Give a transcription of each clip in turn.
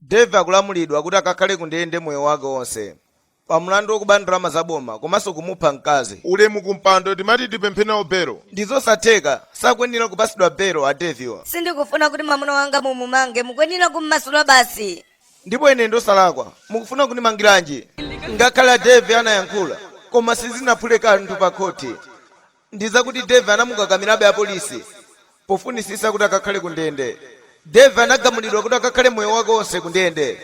dave akulamulidwa kuti akakhale ku ndende moyo wake wonse pa mlandu wokuba ndalama za boma komanso kumupha mkazi ulemu kumpando timati tipemphe nawo belo ndi zosatheka sakuyenera kupatsidwa belo a davewa sindikufuna kuti mwamuna wanga mumumange mukuyenera kummasula basi Ndipo ine ndi wosalakwa, mukufuna kundimangiranji? Ngakhale Dave anayankhula koma sizinaphule kanthu pa khothi ndi zakuti Dave anamukakamirabe apolisi pofunisitsa kuti akakhale ku ndende. Dave anagamulidwa kuti akakhale moyo wake onse ku ndende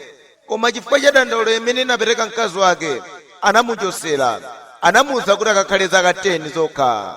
koma chifukwa cha dandaulo imene inapereka mkazi wake anamuchotsera, anamuuza kuti akakhale zaka 10 zokha.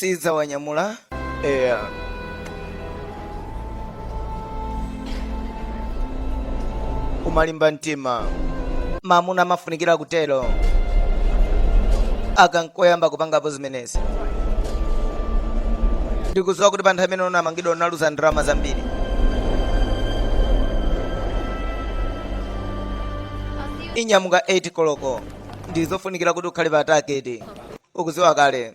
sidzawanyamula eya kumalimba mtima mamuna amafunikira kutero aka nkoyamba kupangapo zimenezi ndikudziwa kuti pa nthawi imene unamangidwa unaluza ndalama zambiri inyamuka 8 koloko ndizofunikira kuti ukhale pa tageti ukuziwa kale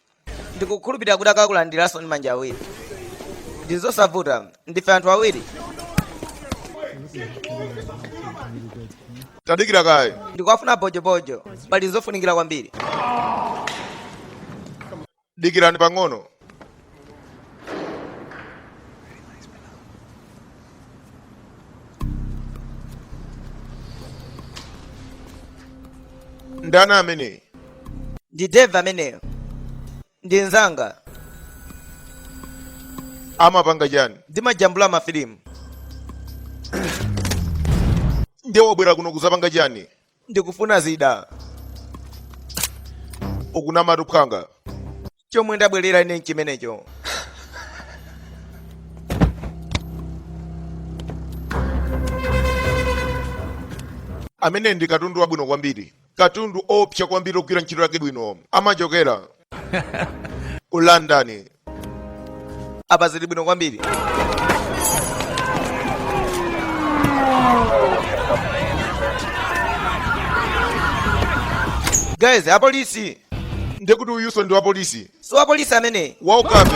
ndikukhulupirira kuti akakulandiranso ndi manja awiri ndi zosavuta ndife anthu awiri tadikira kaye ndikuwafuna bojobojo pali zofunikira kwambiri dikirani pang'ono ndani ameneyi ndi dave ameneyo ndi mzanga amapanga chani ndimajambula mafilimu ndiye wabwera kuno kuzapanga chani ndikufuna zida ukunama tuphwanga chomwe ndabwerera ine nchimenecho ameneyu ndi katundu wabwino kwambiri katundu oopsa kwambiri ogwira ntchito yake bwino amachokera ku london apa zili bwino kwambiri guys apolisi ndekuti uyuso ndi wapolisi si wapolisi ameneyu waukape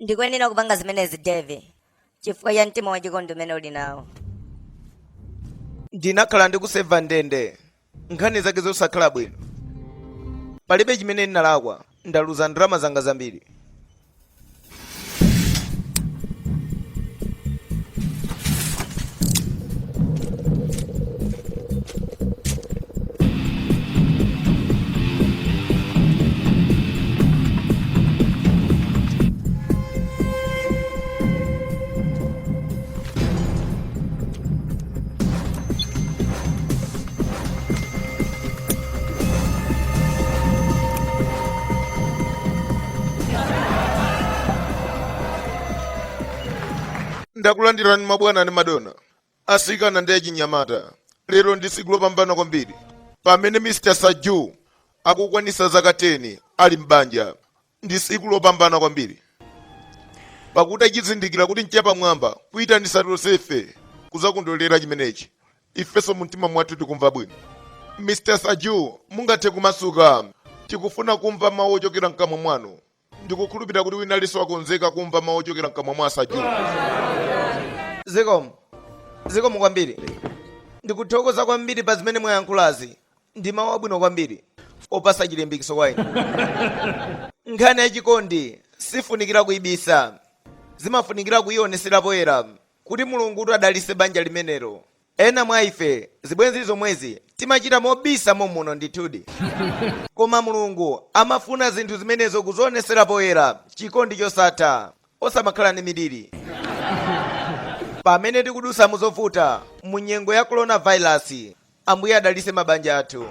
ndikuyenera kupanga zimenezi devi chifukwa cha mtima wachikondi umene ndili nawo ndinakhala ndikuserva ndende nkhani zake zosakhala bwino palibe chimene ndinalakwa ndaluza ndalama zanga zambiri ndakulandirani mabwana ndi madona asikana ndi achinyamata lero ndi tsiku lopambana kwambiri pamene mr saju akukwanitsa zaka 10 ali m'banja Pakuti achizindikira kuti nchapamwamba kuitanitsa tonsefe kudzakondwerera chimenechi. Ifenso mumtima mwathu tikumva bwino. Mr. Saju, mungathe kumasuka. Tikufuna kumva mawu ochokera mkamwa mwanu. Ndikukhulupirira kuti wina aliyense wakonzeka kumva mawu ochokera mkamwa mwa Saju. Zikomo. Ndikuthokoza kwambiri pa zimene mwayankhulazi. ndi mawu abwino kwambiri opatsa chilimbikitso kwa inu nkhani ya chikondi sifunikira kuibisa zimafunikira kuionetsera poyera kuti mulungu kuti adalise banja limenelo ena mwa ife zibwenzi zomwezi timachita mobisa momuno ndithudi koma mulungu amafuna zinthu zimenezo kuzionetsera poyera chikondi chosatha osamakhala ndi miliri pamene tikudutsa muzovuta mu nyengo ya coronavirus ambuye adalise mabanja athu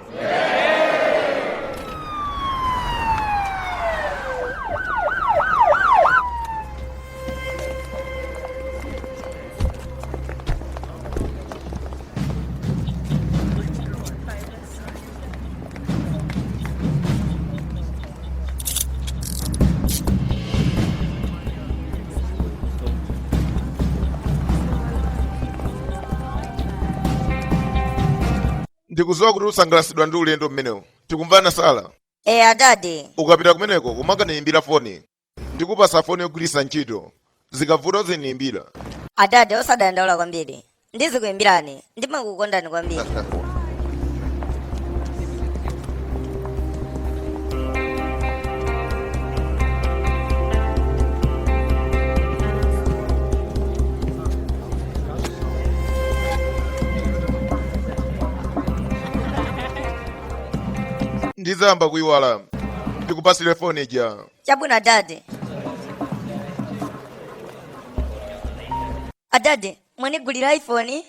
ndikudziwa kuti usangalatsidwa ndi ulendo umenewu tikumvana sala eya dadi ukapita kumeneko uzikandiyimbira foni Ndikupasa foni yogwiritsa ntchito. Zikavuta uzindiyimbira. Adadi osadandaula kwambiri. Ndizikuyimbirani. Ndimakukondani kwambiri. Ndidzayamba kuyiwala. Ndikupasire foni ija. Chabwino adadi. Adadi, mwanigulira iPhone?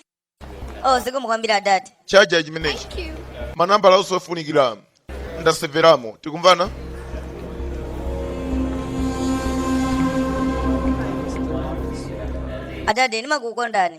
Oh, zikomo kwambiri adadi. chaja chimenechi, manambala onse ofunikira ndaseveramo tikumvana Adadi, ndimakukondani.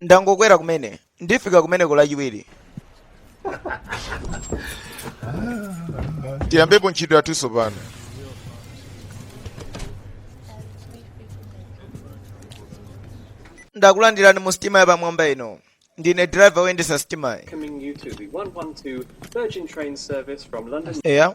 ndangokwera kumene ndifika kumeneko lachiwiri tiyambepo ntchito yathu tsopano ndakulandirani mu sitima yapamwamba ino ndine driver woyendesa sitimayi Welcoming you to the 112 Virgin train service from London. eya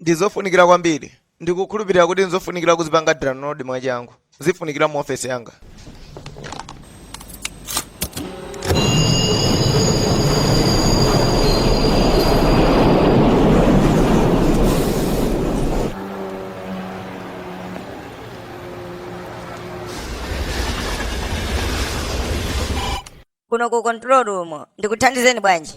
ndi zofunikira kwambiri ndikukhulupirira kuti nzofunikira kuzipanga download mwachangu zifunikira mu ofesi yanga kuno ku control room ndikuthandizeni bwanji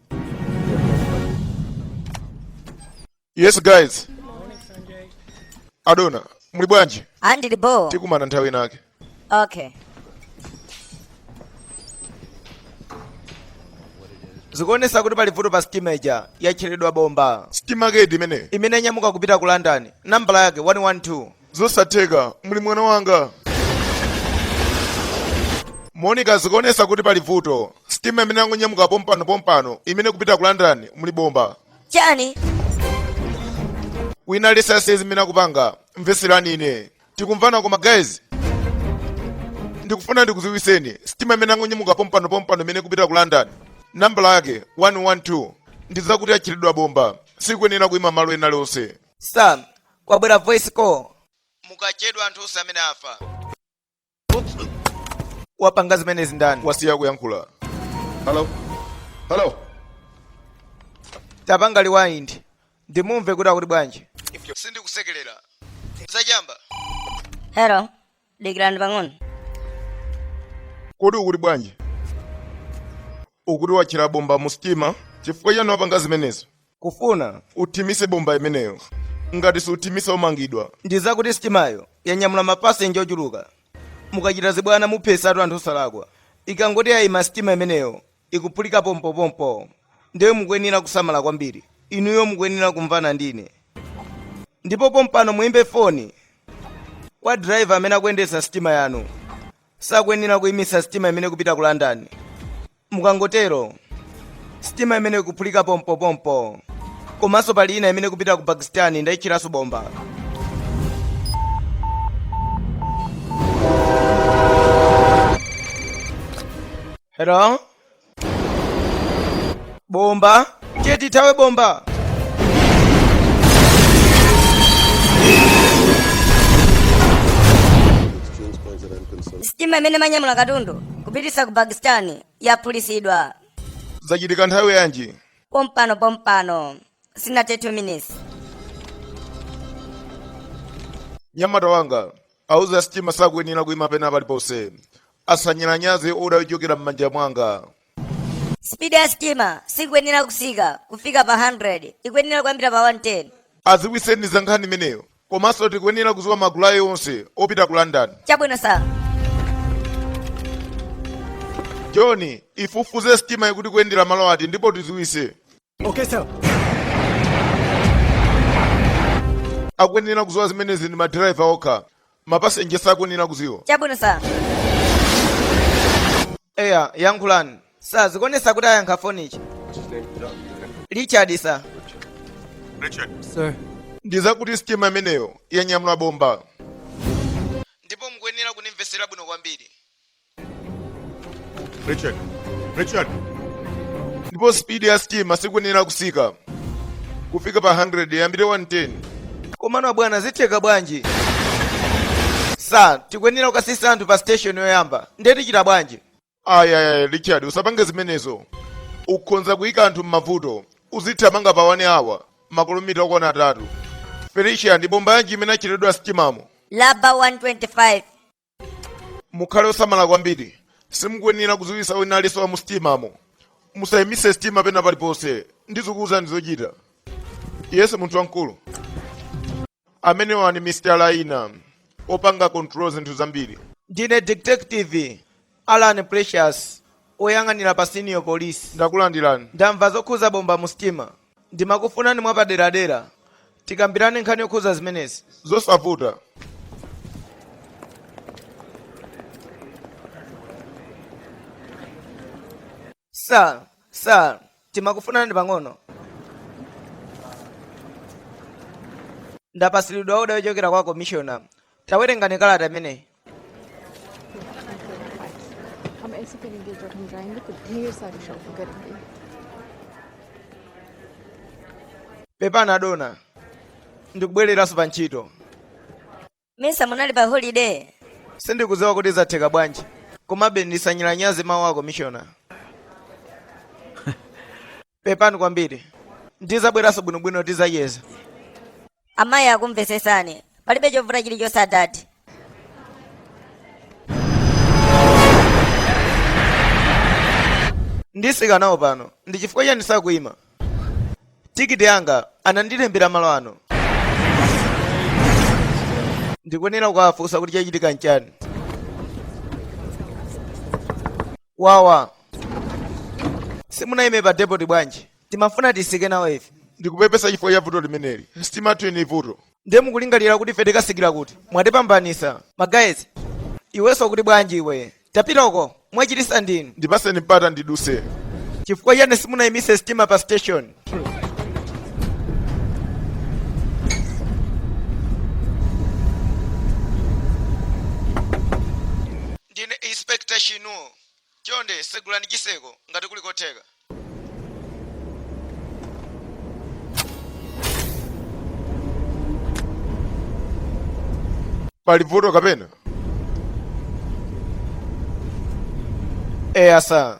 yes guys adona muli bwanji andili bo tikumana nthawi inake okay zikuonesa kuti pali vuto pa sitima ija yatcheredwa bomba sitima kedi imene yanyamuka kupita ku london nambala yake 112 Zosatheka, muli mwana wanga. Monica zikuonesa kuti pali vuto. Sitima imene yangonyamuka pompano pompano imene ikupita ku London muli bomba. chani Wina asiye zimene akupanga. Mveserani ine. Tikumvana koma guys. Ndikufuna ndikuziwiseni. Sitima imene yangonyamuka pompano pompano imene ikupita ku London. Nambala yake 112. Ndizakuti yatcheredwa bomba. Sikuyenera kuima malo ena alionse. sam kwabwera voice call mukachedwa anthu onse amene afa wapanga zimenezi ndani wasiya kuyankhula halo halo tapanga rewind ndimumve kuti akuti bwanji sindikusekelera zachamba Hello. dikirani pang'ono kodi ukuti bwanji ukuti watchera bomba mu sitima chifukwa chani wapanga zimenezo ndikufuna uthimise bomba imeneyo ngati siuthimisa umangidwa ndi zakuti sitimayo yanyamula mapasenja ochuluka mukachita zibwana muphesatu anthu osalakwa ikangoti yayima sitima imeneyo ikuphulika pompopompo. Ndiye mukuyenera kusamala kwambiri. Inuyo mukuyenera kumvana ndi ine. Ndipo pompano muimbe foni kwa diraiva amene akuyendetsa sitima yanu. Sakuyenera kuimitsa sitima imene ikupita ku London. Mukangotero, sitima imene ikuphulika pompopompo. Komanso pali ina imene ikupita ku Pakistan ndaitcheranso bomba. Hello? Bomba? Tiye tithawe bomba. sitima imene imanyamula katundu kupitisa ku pakistani yaphulisidwa Zachitika nthawi yanji? pompano pompano sinathe 2 minutes Nyamata wanga, auze a sitima sakuyenera kuima pena paliponse. asanyalanyaze oda yochokera m'manja mwanga Spidi ya sitima sikuyenera kusika kufika pa 100, ikuyenera kuyambira pa 110. aziwiseni za nkhani imeneyo komanso tikuyenera kuziwa magulu awo onse opita ku london Chabwino sa. john ifufuze sitima ikuti ikuyendera malo ati ndipo tiziwise Okay, sir. akuyenera kuziwa zimenezi ndi madiraiva okha mapasenje sakuyenera kuziwa chabwino sa eya yankhulani sa zikuonesa kuti ayankha foni ichi richard sa Sir. ndizakuti sitima imeneyo yanyamula bomba ndipo mukuyenera kunimvesera bwino kwambiri Richard, Richard. Ndipo speed ya sitima sikuyenera kusika kufika pa 100 iyambire 110. Komano abwana zitheka bwanji? Sa, tikuyenera kukasisa anthu pa station yoyamba. Ndiye tichita bwanji? Ayaya Richard, usapange zimenezo. Ukhonza kuyika anthu m'mavuto. Uzithamanga pa 1 hour makilomita okwana atatu. Felicia ndi bomba yanji imene yatcheredwa m'sitimamo. Laba 125. mukhale osamala kwambiri simukuyenera kudziwitsa wina aliyense wa musitimamo musayimitse sitima pena paliponse ndizikuwuzani zochita yesu munthu wamkulu amenewa ndi mr laina opanga control zinthu zambiri ndine detective Allan Precious, oyang'anira pa Senior Police. Ndakulandirani. Ndamva zokhuza bomba mu sitima. Ndimakufunani mwapaderadera. Tikambirane nkhani yokhuza zimenezi. Zosavuta. Sir, sir, timakufunani pang'ono. Ndapasilidwa order yochokera kwa komishona. Tawerengani kalata imeneyi. pepani adona ndikubwereranso pa ntchito nmesa munali pa holiday sindikudziwa kuti zatheka bwanji komabe ndisanyalanyaze mawu a komishona pepani kwambiri ndizabweranso bwinobwino tizacheza amayi akumvesesani palibe chovuta chilichonse adadi ndisika nawo pano ndi chifukwa chani sakuyima? tikiti yanga anandilembera malo ano ndikuyenera kukafunsa kuti chachitika nchani wawa simunayime pa depoti bwanji imafuna tisike nawo ife ndikupepesa chifukwa cha vuto limeneli sitima yathu ili ndi vuto ndiye mukulingalira kuti ife tikasikira kuti mwatipambanisa magazi iwenso ukuti bwanji iwe tapita uko mwachitisa ndinu ndipaseni mpata ndiduse chifukwa chani simunayimise sitima pa station Ndine Inspector Shinuo. Chonde segulani chiseko ngati kuli kotheka. Pali vuto kapena? Eya sa.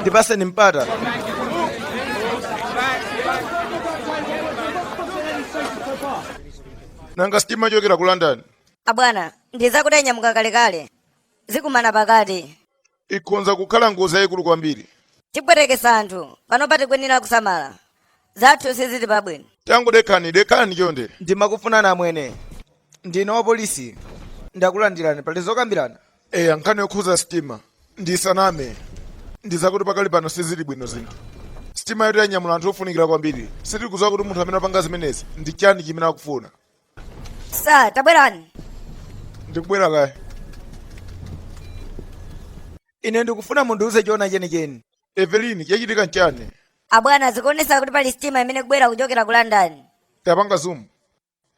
ndipaseni mpata nanga sitima yochokera ku london abwana ndizakuti yanyamuka kalekale zikumana pakati ikhonza kukhala ngozi yayikulu kwambiri. Tipwetekesa anthu, panopa tikuyenera kusamala. Zathu sizili pabwino. Tangodekhani, dekhani chonde. Ndimakufunani amwene. Ndine wa polisi. Ndakulandirani, pali zokambirana? Eya, nkhani yokhuza sitima. Ndisaname. Ndizakuti pakali pano sizili bwino zinthu. Sitima yoti yanyamula anthu ofunikira kwambiri. Sitikudziwa kuti munthu amene apanga zimenezi ndi chani chimene akufuna. Sir, tabwerani. ndikubwera kaya ine ndikufuna mundiuze chona chenicheni Evelyn chachitika nchani Abwana zikuonesa kuti pali sitima imene ikubwera kuchokera ku London. Tapanga zoom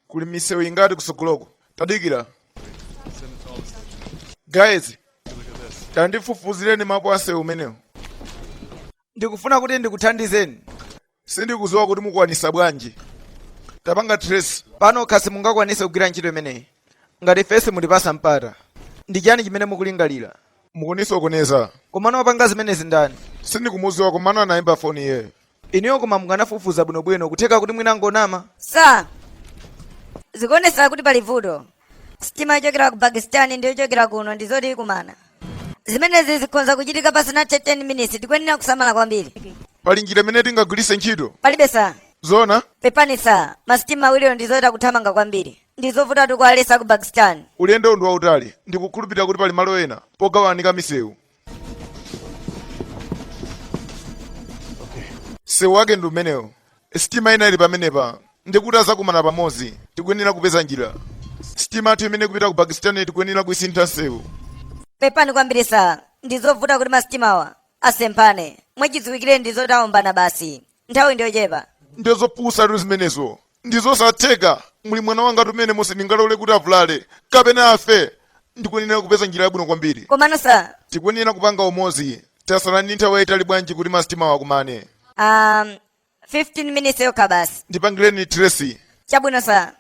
kuli misewu ingati kutsogoloko tadikira guys tandifufuzireni mapu a nsewu umenewu ndikufuna kuti ndikuthandizeni Sindikuziwa kuti mukwanisa bwanji. Tapanga trace. Panokha simungakwanise kugwira ntchito imeneyi ngati ife simutipatsa mpata. Ndi chani chimene mukulingalira? Mukunisokoneza. Komano wapanga zimenezi ndani? Sindikumuziwa komano anaimba foni iyeyo. Inuyo koma mukanafufuza bwino bwino kutheka kuti mwina angonama. Sir, zikuonesa kuti pali vuto. sitima yochokera ku pakistan ndi yochokera kuno ndi zoti ikumana zimenezi zikhonza kuchitika pasanathe 10 minutes tikuyenera kusamala kwambiri pali njira imene tingagwiritse ntchito palibe sa zona pepani sa masitima awiriwo ndi zoyeta kuthamanga kwambiri ndi zovutatu kuwaletsa ku pakistan ulendowu ndi wautali ndikukhulupirira kuti pali malo ena pogawanika misewu msewu wake ndi umenewo sitima ina ili pamenepa ndikuti adzakumana pamodzi tikuyenera kupeza njira sitima yathu imene ikupita ku pakistan tikuyenera kuisintha msewu pepani kwambiri sa ndizovuta kuti masitimawa asemphane mwachidziwikire ndi zoti aombana basi nthawi ndiyochepa. ndizopusatu zimenezo ndizosatheka muli mwana wanga mmenemo ndingalole kuti avulale kapena afe ndikuyenera kupeza njira yabwino kwambiri komano sa tikuyenera kupanga limodzi tatsala ndi nthawi yayitali bwanji kuti masitimawo akumane um, 15 minutes yokha basi ndipangireni trace chabwino sa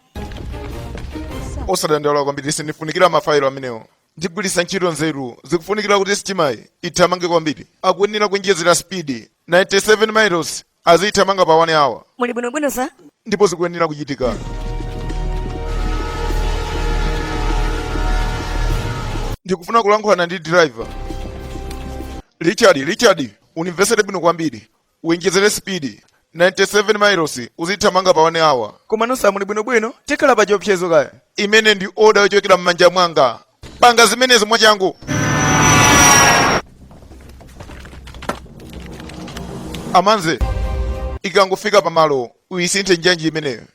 osadandaula kwambiri sa ndifunikira mafailo amenewo Ndigwiritsa ntchito nzeru zikufunikira kuti sitimayi ithamange kwambiri. Akuyenera kuonjezera speed 97 miles aziithamanga pa 1 hour Muli bwinobwino sa? ndipo zikuyenera kuchitika. Ndikufuna kulankhulana ndi driver. Richard, Richard, unimvesere bwino kwambiri. Uonjezere speed 97 miles uzithamanga pa 1 hour. Komano sa muli bwinobwino tikhala pa chiopsezo kaya. Imeneyi ndi oda yochokera m'manja mwanga. Panga zimenezi mwachangu. A manje ikangofika pamalo uyisinthe njanji imeneyo.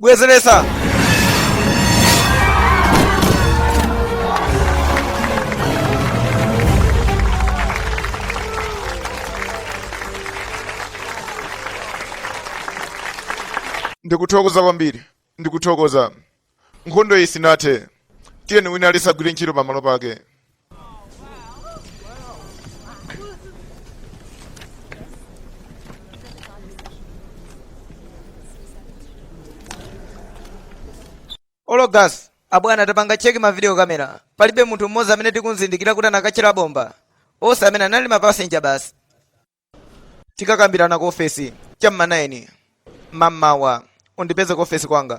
bwezeretsa ndikuthokoza kwambiri Ndikuthokoza. Nkhondo iyi sinathe. Tiyeni wina aliyense agwire ntchito pamalo pake. ologas abwana tapanga cheki mavidiyo kamera palibe munthu mmodzi amene tikumzindikira kuti anakatchera bomba onse amene anali mapasenja basi tikakambirana ku ofesi cha m'ma 9 mammawa undipeze ku ofesi kwanga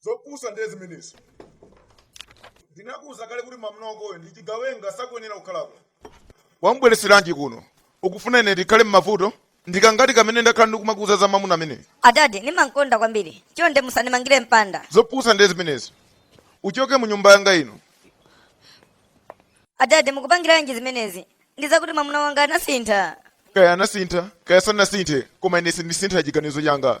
zopusa ndiye zimenezo ndinakuuza kale kuti mwamuna wakoyo ndi chigawenga sakuyenera kukhalako wamubwereseranji kuno ukufuna ine ndikhale m'mavuto ndikangati kamene ndakhala ndikumakuuza za mamuna ameneyo adadi ndimankonda kwambiri chonde musandimangire mpanda zopusa ndiye zimenezo uchoke mu nyumba yanga ino adadi mukupangiranji zimenezi ndikuti mwamuna wanga anasintha kaya anasintha kaya sanasinthe koma ine sindisintha chiganizo changa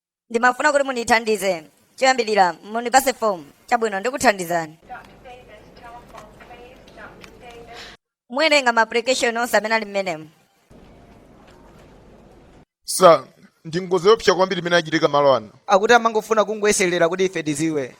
ndimafuna kuti mundithandize choyambirira mundipase fomu chabwino ndikuthandizani muwerenga ma application onse amene ali mmenemo ndi ngozi yoopsa kwambiri imene achitika malo ano akuti amangofuna kungoyeserera kuti ife tiziwe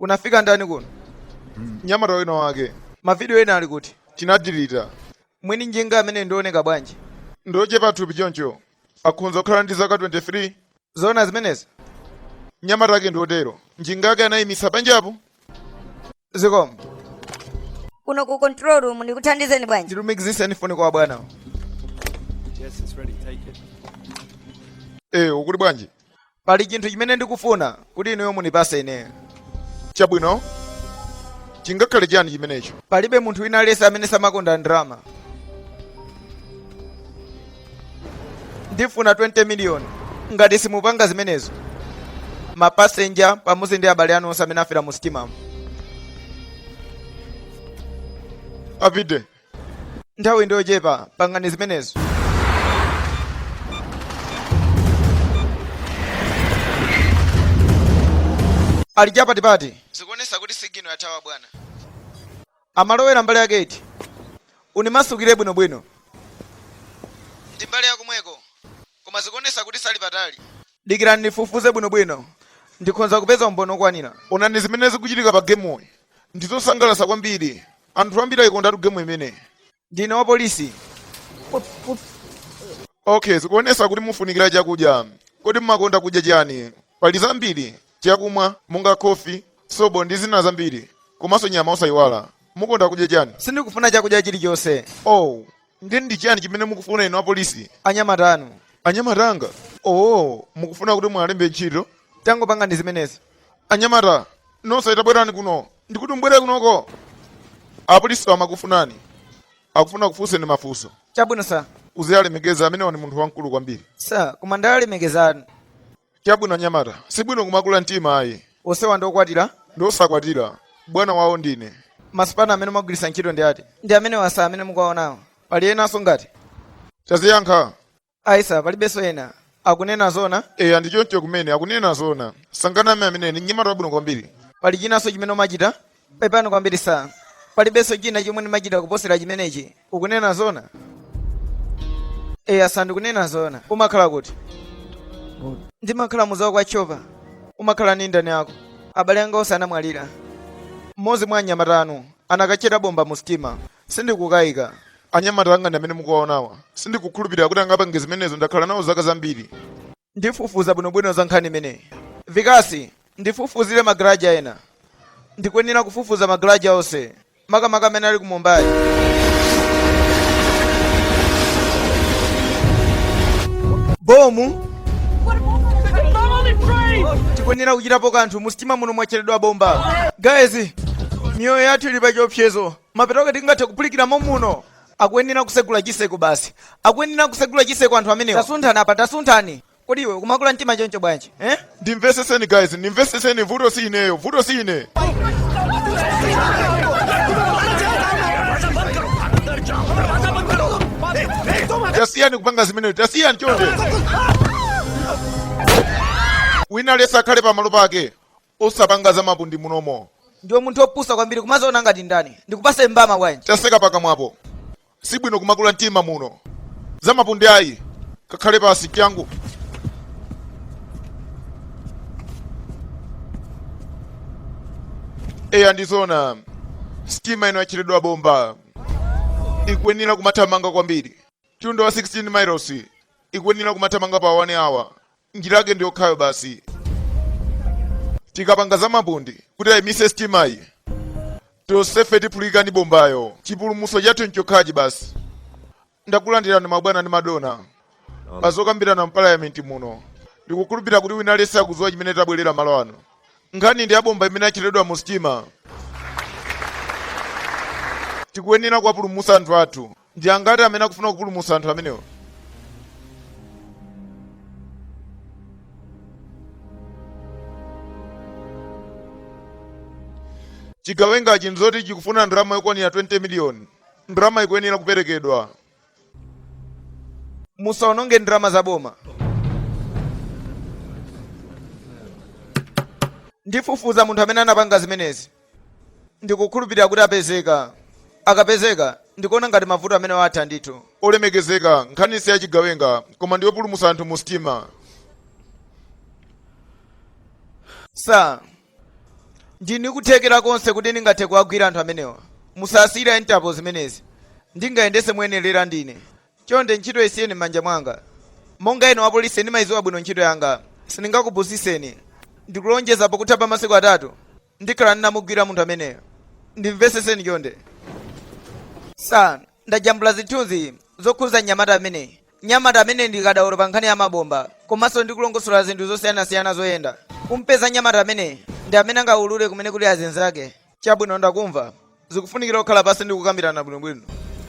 unafika ndani kuno mnyamata wina wake mavidiyo ena ali kuti tinadilita mwini njinga amene ndi wooneka bwanji ndi wochepa thupi choncho akhonza kukhala ndi zaka 23 zoona zimenezi mnyamata wake ndi wotero njinga yake anayimitsa panjapo zikomo kuno ku control room ndikuthandizeni bwanji ndilumikiziseni foni kwa bwana Yes, it's ready. Take it. ee ukuti bwanji pali chinthu chimene ndikufuna kuti inuyo munipase ineyo chabwino chingakhale chiyani chimenecho palibe munthu wina aliyense amene samakonda ndalama ndifuna 20 miliyoni ngati simupanga zimenezo mapasenja pamodzi ndi abale anu onse amene afera mu sitimamo apita nthawi ndi yochepa pangani zimenezo ali chapatipati zikuonesa kuti sigino yathawa abwana Amalowera mbali yake iti? Unimasukire bwinobwino. Ndi mbali ya komweko, koma zikuonetsa kuti sali patali. Dikirani nifufuze bwinobwino. Ndikhonza kupeza umboni wokwanira. Onani zimene zikuchitika pa gemuyi. Ndi zosangalatsa kwambiri. Anthu ambiri aikondatu gemu imeneyi. ndine wa polisi okay zikuonesa kuti mufunikira chakudya kodi mumakonda kudya chiyani pali zambiri chakumwa monga khofi sobo ndi zina zambiri komanso nyama osayiwala mukonda kudya chiyani sindikufuna chakudya chilichonse oh ndi ndi chiyani chimene mukufuna inu apolisi anyamata anu anyamata anga oh mukufuna kuti mwalembe ntchito tangopangani zimenezo anyamata nonse tabwerani kuno ndikuti mubwere kunoko apolisi amakufunani akufuna akufunseni mafunso chabwino sa uziyalemekeza amenewa ni munthu wamkulu kwambiri sa koma ndalemekezani chabwino anyamata sibwino kumakula mtima ayi onsewa ndi okwatira ndi osakwatira bwana wawo ndine masipana amene mwagwiritsa ntchito ndi ati ndi amenewa sa amene mukuwaonawo pali enanso ngati taziyankha ayi sa palibenso ena akunena zona eya ndi choncho kumene akunena zona sanganame ameneyu ndi mnyamata wabwino kwambiri pali chinanso chimene umachita pepani kwambiri sa palibenso china chomwe ndimachita kuposera chimenechi ukunena zona eya sa ndikunena zona umakhala kuti ndimakhala muzawo kwa chova umakhala ni ndani ako abale anga onse anamwalira mmodzi mwa anyamata anu anakatchera bomba mu sitima Sindikukaika. Anyamata anga ndi amene mukuwaonawa. Sindikukhulupirira kuti angapange zimenezo. Ndakhala nawo zaka zambiri. Ndifufuza bwinobwino za nkhani imeneyi. Vikasi, ndifufuzire magaraja ena. Ndikuyenera kufufuza magaraja onse, makamaka amene ali ku Mumbai. Bomu! Tikuyenera kuchitapo kanthu. Musitima muno mwatcheredwa bomba. Guys, miyoyo yathu ili pa chiopsezo. Mapeto ake tingathe kuphulikira mommuno. Akuyenera kusegula chiseko basi. Akuyenera kusegula chiseko anthu amenewa. Tasunthani apa tasunthani. Kodi iwe ukumakula mtima choncho bwanji? Eh? Ndimveseseni guys, ndimveseseni vuto si ineyo, vuto si ine. Tasiyani kupanga zimene, tasiyani chonde. Wina aliyense akhale pamalo pake. Osapanga za mapundi munomo. Ndiwe munthu opusa kwambiri kumaziona ngati ndani ndikupase mbama bwanji. Taseka pakamwapo sibwino kumakula mtima muno za mapundi ayi kakhale pasi changu. Eya ndizona sitima ino yatcheredwa bomba ikuyenera kumathamanga kwambiri mtunda wa 16 miles ikuyenera kumathamanga pa 1 hour njira yake ndi yokhayo basi tikapanga za mapundi kuti ayimitse sitimayi tonsefe tiphulika ndi bombayo chipulumutso chathu nchokhachi basi ndakulandirani mabwana ndi madona pa zokambirana mpalayamenti muno ndikukhulupirira kuti wina aliyense akudziwa chimene tabwerera malo ano nkhani ndi yabomba imene yatcheredwa mu sitima tikuyenera kuwapulumutsa anthu athu Ndi angati amene akufuna kupulumutsa anthu amenewa? Chigawengachi nzoti chikufuna ndalama yokwanira 20 miliyoni. Ndalama ikuyenera kuperekedwa. Musaononge ndalama za boma. Ndifufuza munthu amene anapanga zimenezi. Ndikukhulupirira kuti apezeka. Akapezeka, ndikuona ngati mavuto amenewa atha ndithu. Olemekezeka, nkhaniyi si ya chigawenga, koma ndi yopulumutsa anthu mu sitima. Sir, ndili ndi kuthekera konse kuti ndingathe kuwagwira anthu amenewa. Musasiyire a Interpol zimenezi. Ndingayendetse moyenerera ndine. Chonde ntchitoyi isiyeni m'manja mwanga. Monga ine wapolisi ndimaidziwa bwino ntchito yanga. Sindingakupusitseni. Ndikulonjeza pakutha pa masiku atatu ndikhala ndinamugwira munthu ameneyo ndimvetsetseni chonde sir ndajambula zithunzi zokhudza mnyamata ameneyi mnyamata ameneyi ndi kadaulo pa nkhani ya mabomba komanso ndi kulongosola zinthu zosiyanasiyana zoyenda kumpeza mnyamata ameneyi ndi amene angaulule kumene kuli azinzake chabwino ndakumva zikufunikira kukhala pansi ndi kukambirana bwinobwino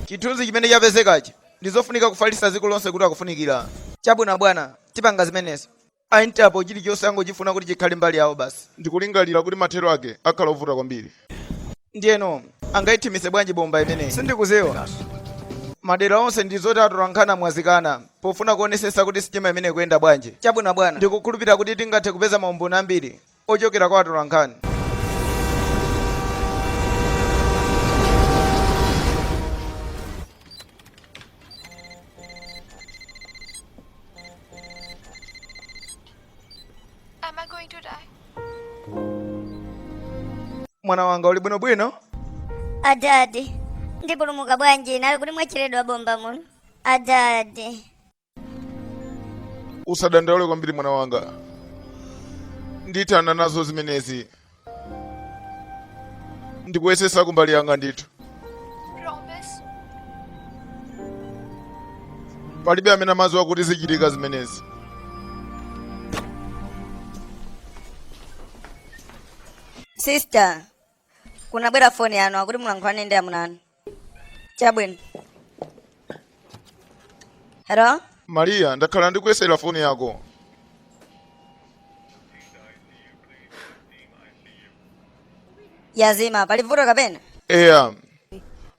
chithunzi chimene chapezekachi ndi zofunika kufalitsa dziko lonse kuti akufunikira chabwino bwana tipanga zimenezo A Interpol chilichonse angochifuna kuti chikhale mbali yawo basi. Ndikulingalira kuti mathero ake akhala ovuta kwambiri. Ndiyeno angaithimitse bwanji bomba imeneyi? Sindikudziwa. Madera onse ndi zoti atolankhani amwazikana pofuna kuonesetsa kuti sitima imeneyi ikuyenda bwanji. Chabwino abwana, ndikukhulupirira kuti tingathe kupeza maumboni ambiri ochokera kwa atolankhani. Am I going to die? Mwana wanga uli bwino bwino? Adadi, ndipulumuka bwanji inali kuti mwatcheredwa bomba muno? Adadi. usadandaule kwambiri mwana wanga ndithana nazo zimenezi ndikuyesetsa kumbali yanga ndithu Promise? palibe amene amadziwa kuti zichitika zimenezi Sister, kunabwera foni yanu akuti mulankhulane ndi amunanu. chabwino hero mariya ndakhala ndikuyesera foni yako yazima pali vuto kapena eya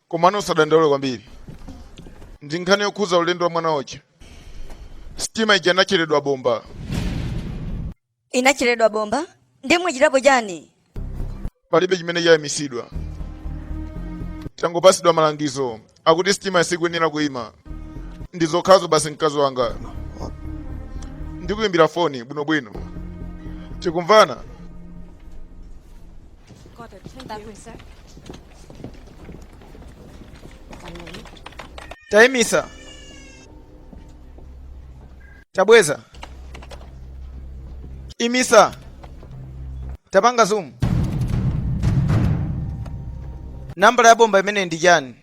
komano usadandaule kwambiri ndi nkhani yokhuza ulendo wa mwana wako sitima ija inatcheredwa bomba inatcheredwa bomba ndiye mwachitapo chani palibe chimene chayimisidwa tangopasidwa malangizo akuti sitima sikuyenera kuyima ndi zokhazo basi mkazi wanga ndikuyimbira foni bwinobwino tikumvana tayimisa tabweza imisa tapanga zoom nambala ya bomba imeneyi ndi chani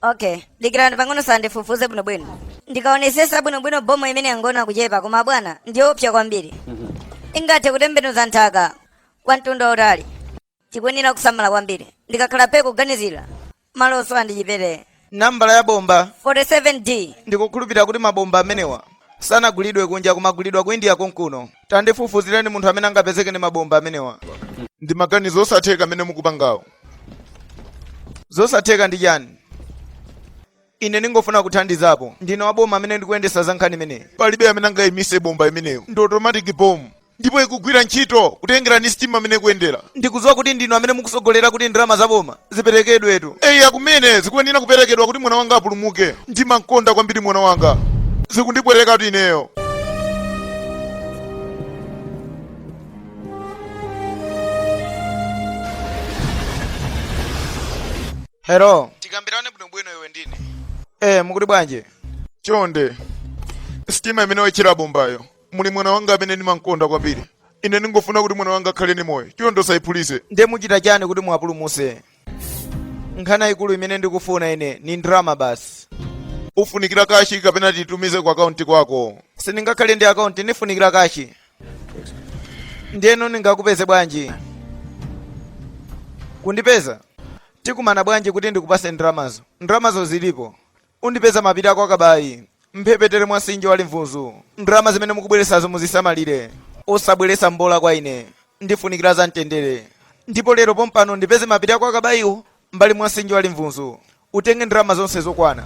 okay dikirani pang'ono tandifufuze bwinobwino ndikaonesesa bwinobwino bomba imeneyi yangooneka kuchepa koma bwana ndiyoopsa kwambiri ingathe kutembenuza nthaka kwa mtunda wautali tikuyenera kusamala kwambiri ndikakhala pe kuganizira malo osowa ndi chipere nambala ya bomba 47d ndikukhulupirira kuti mabomba amenewa sanagulidwe kunja kumagulidwa ku india konkuno tandifufuzireni munthu amene angapezeke ni mabomba amenewa ndi maganizo osatheka amene mukupangawo zosatheka ndi chani Ine ndingofuna kuthandizapo. Ndine wa boma amene ndikuyendesa za nkhani imeneyi. Palibe amene angaimise bomba imeneyo. Ndi automatic bomb. Ndipo ikugwira ntchito kutengera ni sitima mmene ikuyendera. Ndikuziwa kuti ndinu amene mukusogolera kuti ndalama za boma ziperekedwetu. Eya kumene, zikuyenera kuperekedwa kuti mwana wanga apulumuke. Ndimankonda kwambiri mwana wanga. Zikundipwetekatu ineyo. Hello. Tikambirane bwinobwino iwe ndine. Eh, mukuti bwanji? Chonde. Sitima imene watchera bombayo. Muli mwana wanga amene ndimamkonda kwambiri. Ine ndingofuna kuti mwana wanga akhale ni moyo. Chonde usayiphulise. Nde muchita chani kuti muwapulumuse? Nkhani yaikulu imene ndikufuna ine ni ndalama basi. Ufunikira kashi kapena tiyitumize ku akaunti kwako? Sindingakhale ndi akaunti, ndifunikira kashi. ndiyeno ndingakupeze bwanji kundipeza tikumana bwanji kuti ndikupase ndalamazo ndalamazo zilipo undipeza mapiri a kwa Kabayi mphepete mwa msinje wa Limvunzu ndalama zimene mukubweresazo muzisamalire osabweresa mbola kwa ine ndifunikira za mtendere ndipo lero pompano ndipeze mapiri a kwa Kabayiwo mbali mwa msinje wa Limvunzu utenge ndalama zonse zokwana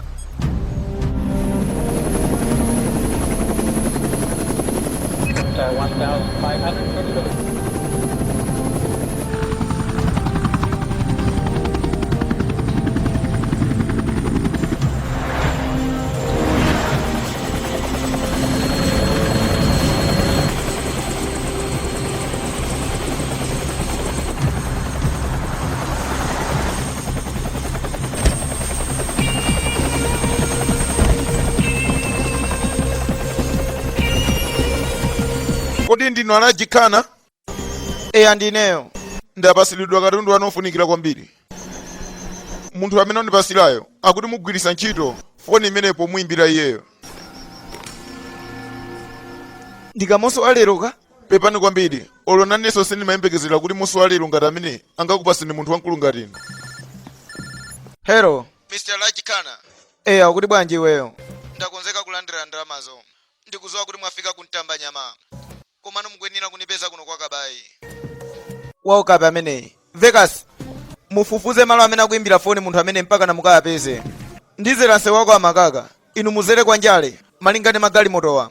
kodi ndinu a Raj Khanna eya ndineyo ndapasilidwa katundu wanu ofunikira kwambiri munthu amene wandipasilayo akuti mugwiritsa ntchito foni imeneyi pomuyimbira iyeyo ndi kamonso wa leroka Pepani kwambiri, olo nanenso sindimayembekezera kuti munthu wa lero ngati ameneyi angakupaseni munthu wamkulu ngati inu. Hello, Mr. Raj Khanna, eya kuti bwanji iweyo? ndakonzeka kulandira ndalamazo. Ndikudziwa kuti mwafika kumtamba nyama, komano mukuyenera kunipeza kuno kwa kabayi. Waukape ameneyi. Vekas, mufufuze malo amene akuimbira foni munthu ameneyi mpaka namukayapeze. Ndizera nsewu wa kwa Makaka, inu muzere kwa njale, malinga ndi magalimotowa.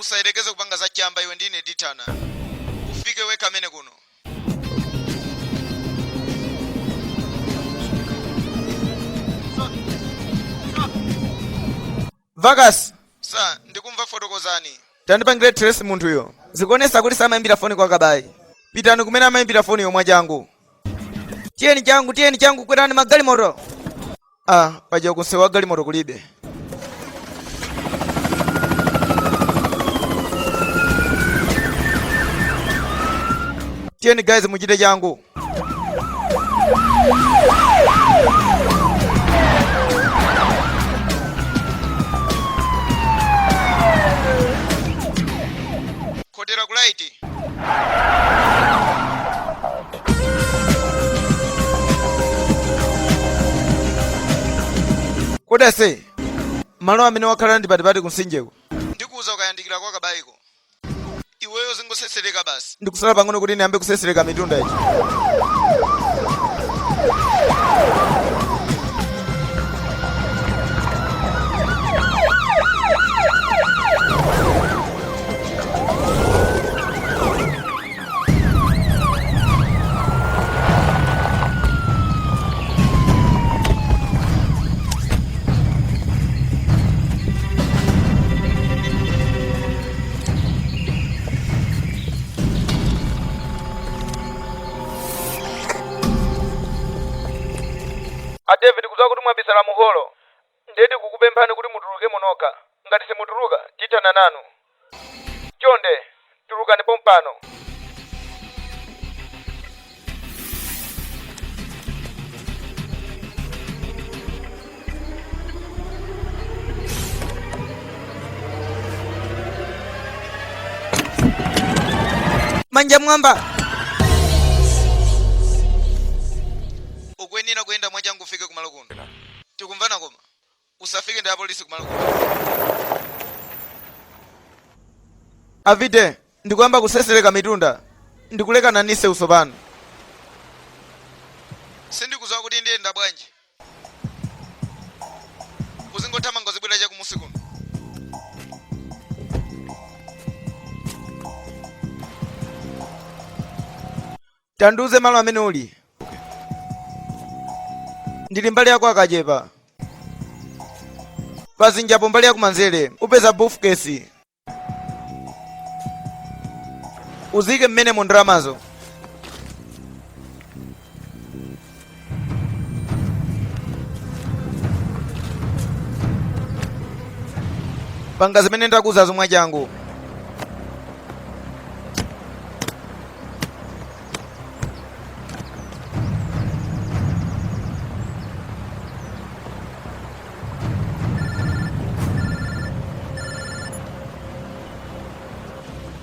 usayerekeze kupanga za chamba iwe ndi ine tithana ufike wekha amene kuno Vekas sir ndikumva fotokozani tandipangira trace munthuyo zikuonesa kuti samayimbira foni kwa kabayi pitani kumene amayimbira foniyo mwachangu tiyeni changu tiyeni changu kwerani magalimoto Ah, paja kunsewu wa galimoto kulibe. Tiyeni guys muchite changu. kodi ase malo amene wakhala ndi patipati kunsinjeko ndikuuza ukayandikira kwa kabayiko iweyo uzingosesereka basi ndangosala pang'ono kuti ndiyambe kusesereka mitunda ichi a david tikudziwa kuti mwabisala muholo Ndiye tikukupemphani kuti mutulukemo nokha. Ngati simutuluka, tithana nanu. Chonde, tulukani pompano! Manja m'mwamba! ukuyenera kuyenda mwachangu ufike kumalo kuno Tikumvana koma? Usafike ndi apolisi kumalo komweko. Avide, ndikuyamba kuseseleka mitunda. Ndikulekana ndi msewu tsopano. Sindikudziwa kuti ndiyenda bwanji. Uzingothamanga uzibwera cha kumusi kuno. tandiuze malo amene uli ndili mbali ya kwa Kachepa pazinjapo mbali yakumanzere upeza brifkesi uike mmenemo ndalamazo panga zimene ndakuuzazo mwachangu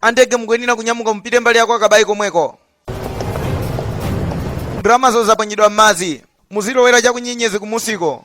andege mukuyenera kunyamuka mupite mbali ya kwa Kabayi komweko ndalamazo zaponyedwa m'madzi muzilowera chakunyenyezi kumusiko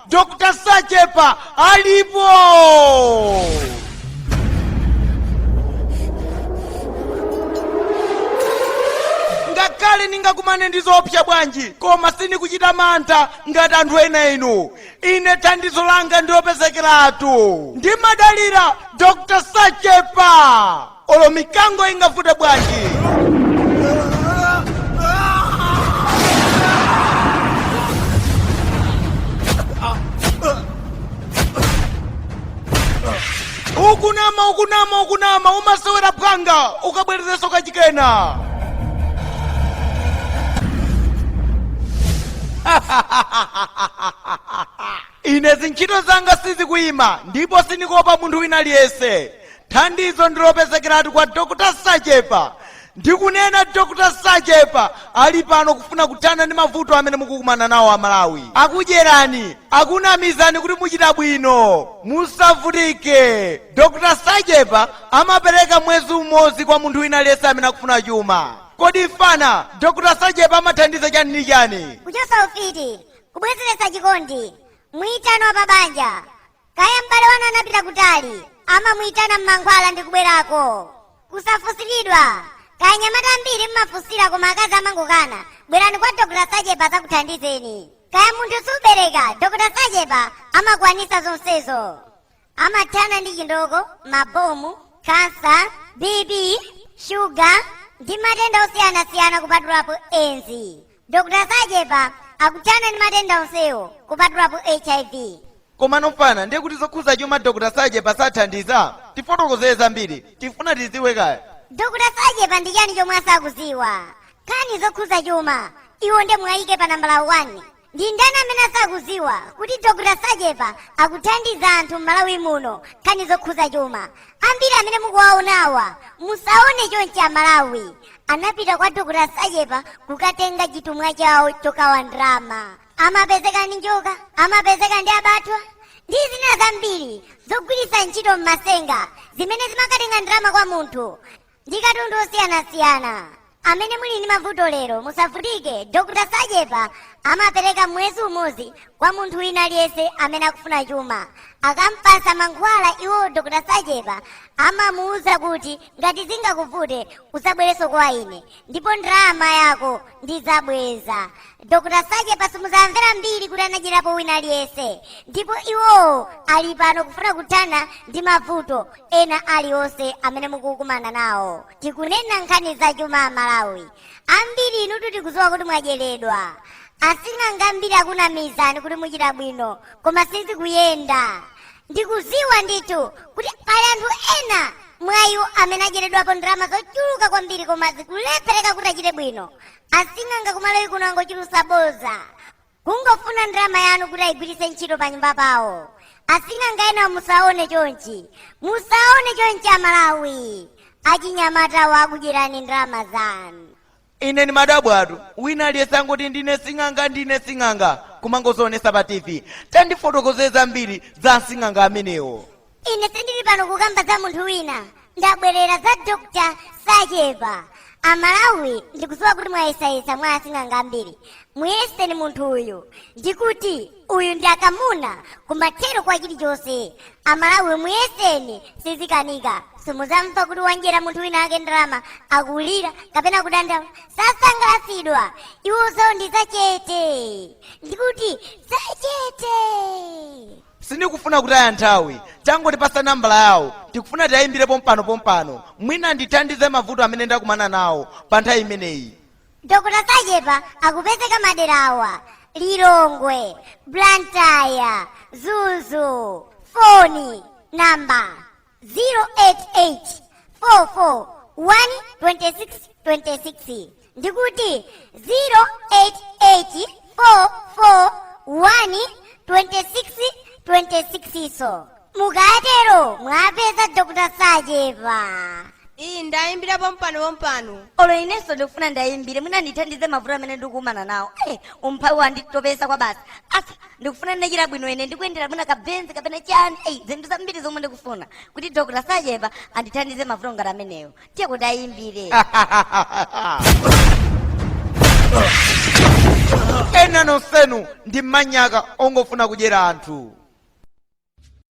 Dr. Sachepa alipo! ngakhale ndingakumane ndi zoopsa bwanji koma sindikuchita mantha ngati anthu ena inu ine thandizo langa ndi lopezekeratu ndimadalira dr sachepa olo mikango ingavute bwanji ukunama ukunama ukunama umasewera phwanga ukabwerezeso kachikena ine zintchito zanga sizikuyima ndipo sindikuopa munthu wina aliyense Thandizo ndilopezekeratu kwa Dr Sachepa ndikunena Dr Sachepa ali pano kufuna kuthana ndi mavuto amene mukukumana nawo amalawi akudyerani akunamizani kuti muchita bwino musavutike Dr Sachepa amapereka mwezi umodzi kwa munthu wina aliyense amene akufuna chuma kodi fana Dr Sachepa amathandiza chani ndi chani kuchosa ufiti kubwezeretsa chikondi muitano wa pabanja kaya m'bale wanu anapita kutali amamuyitana mmankhwala ndi kubwerako kusafusiridwa kaya anyamata ambiri mmafunsira koma akazi amangokana bwerani kwa dokota sachepa azakuthandizeni kaya munthu subereka dokota sachepa amakwanisa zonsezo amathana ndi chindoko mabomu kansa bp shuga ndi matenda osiyanasiyana kupatulapo edzi Dr. Sachepa akuthana ndi matenda onsewo kupatulapo HIV. Komano fana ndiye kuti zokhuza chuma Dr. Sachepa sathandiza? Tifotokozere zambiri. Tikufuna tiziwe kaya. Dr. Sachepa ndi chani chomwe asakuziwa? Nkhani zokhuza chuma, iwo nde muwayike pa nambala 1. Ndi ndani amene asakuziwa kuti Dr. Sachepa akuthandiza anthu m'Malawi muno nkhani zokhuza chuma? Ambiri amene mukuwaonawa musaone chonchi a Malawi. anapita kwa dokota sachepa kukatenga chitumwa chawo chokawa ndalama amapezeka ndi njoka amapezeka ndi abathwa ndi zina zambiri zogwiritsa ntchito m'masenga zimene zimakatenga ndalama kwa munthu ndi katundu osiyanasiyana amene muli ndi mavuto lero musavutike dokota sachepa amapereka mwezi umodzi kwa munthu wina aliyense amene akufuna chuma akampasa mankhwala iwo dokota sachepa amamuwuza kuti ngati zingakuvute udzabwerenso kwa ine ndipo ndalama yako ndidzabweza dr sachepa simuzamvera mbiri kuti anadyerapo wina aliyense ndipo iwowo ali pano kufuna kuthana ndi mavuto ena aliwonse amene mukukumana nawo tikunena nkhani za chuma a malawi ambiri inutu tikudziwa kuti mwadyeredwa asing'anga ambiri akunamizani kuti muchita bwino koma sizikuyenda ndikuziwa ndithu kuti pali anthu ena mwa iwo amene adyeredwapo ndalama zochuluka kwambiri koma zikulephereka kuti achite bwino asing'anga kumalawi kuno angochulutsa bodza kungofuna ndalama yanu kuti ayigwiritse ntchito pa nyumba pawo asing'anga ena musaone chonchi musaone chonchi amalawi achinyamatawo akudyerani ndalama zanu Ine ndimadabwatu wina aliyense angoti ndine sing'anga ndine sing'anga kumangozionetsa pa tv tandifotokozereni zambiri za asing'anga amenewo ine sindili pano kukamba za munthu wina ndabwerera za dr sachepa amalawi ndikudziwa kuti mwayesayesa mwa asing'anga ambiri muyeseni munthu uyu ndikuti uyu ndi akamuna kumathero kwa chilichonse amalawi muyeseni sizikanika simudzamva kuti wadyera munthu wina ake ndalama akulira kapena kudandaula sasangalatsidwa iwo zawo ndi zachete ndikuti zachete sindikufuna kutaya nthawi tangotipatsa nambala yawo tikufuna tiyayimbire pompano pompano mwina andithandize mavuto amene ndakumana nawo pa nthawi imeneyi Dr Sachepa akupezeka madera awa Lilongwe, Blantyre, Mzuzu, foni namba 0884412626 ndikuti 0884412626 so mukatero mwapeza dr sachepa iyi ndayimbira pompano pompano olo inenso ndikufuna ndiwayimbire mwina andithandize mavuto amene ndikukumana nawo Eh, umphawi wanditopesa kwabasi asa ndikufuna nditachita bwino ine ndikuyendera mwina kabenzi kapena chani eyi zinthu zambiri zomwe ndikufuna kuti dr sachepa andithandize mavuto ngati amenewo tiyeko tiwayimbire ena nonsenu ndi manyaka ongofuna kudyera anthu